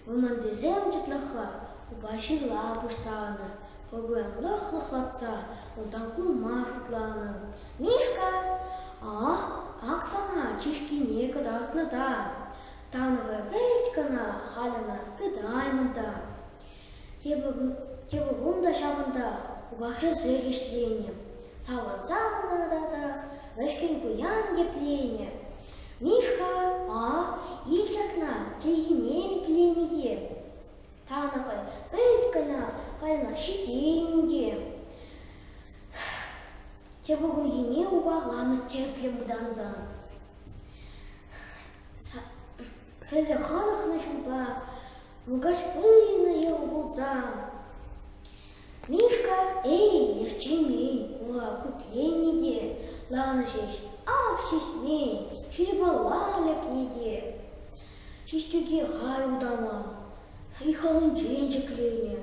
Вӑрмантисем чӑтлӑха упа ҫырла пуҫтарнӑ. Пӑкӑрлӑх лӑхлатса унтан кулма шутланӑ. Мишка, а ак сана чышкине кӑтартнӑ та. Танӑ вӗлт кӑна халь ӑна тытаймӑн та. Тепӗр кун та ҫавӑнтах упа хӗсех ӗҫленӗ. Савӑнса кӑна татах вӗҫкӗн пуян тепленӗ. Мишка, а, ил ҫакна, чӗлхине витленӗ те. Тана хӑй пӗлет кӑна, кайнах ҫитеймӗн те. Тепӗр кунхине упаланӑ тӗплӗ мутанса. Пӗлтӗр хӑнӑхнӑ ҫулпа Муркаш пынӑ йӑл пулсан. Мишка, эй, лӗхчемен, ура путлени те ланӑ ҫеҫ, ак ҫиҫмен, ҫирӗпалла лекни те. Ҫиҫтӳке халь утама, хӑйхалӗнчен ҫӗкленӗ.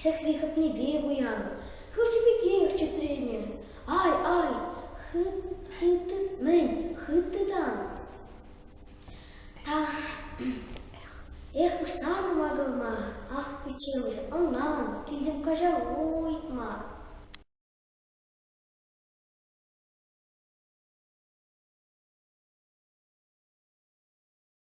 Ҫакри хӑпнипе пуян. Хӑрчӗ пекех чӗтренӗ. Ай, ай, хытӑ, мӗн, хытӑтан. Ах, эх, пуҫтарнӑ макӑрма. Ах, пиччемӗш, ӑнлан, килтӗм каҫа уйтма.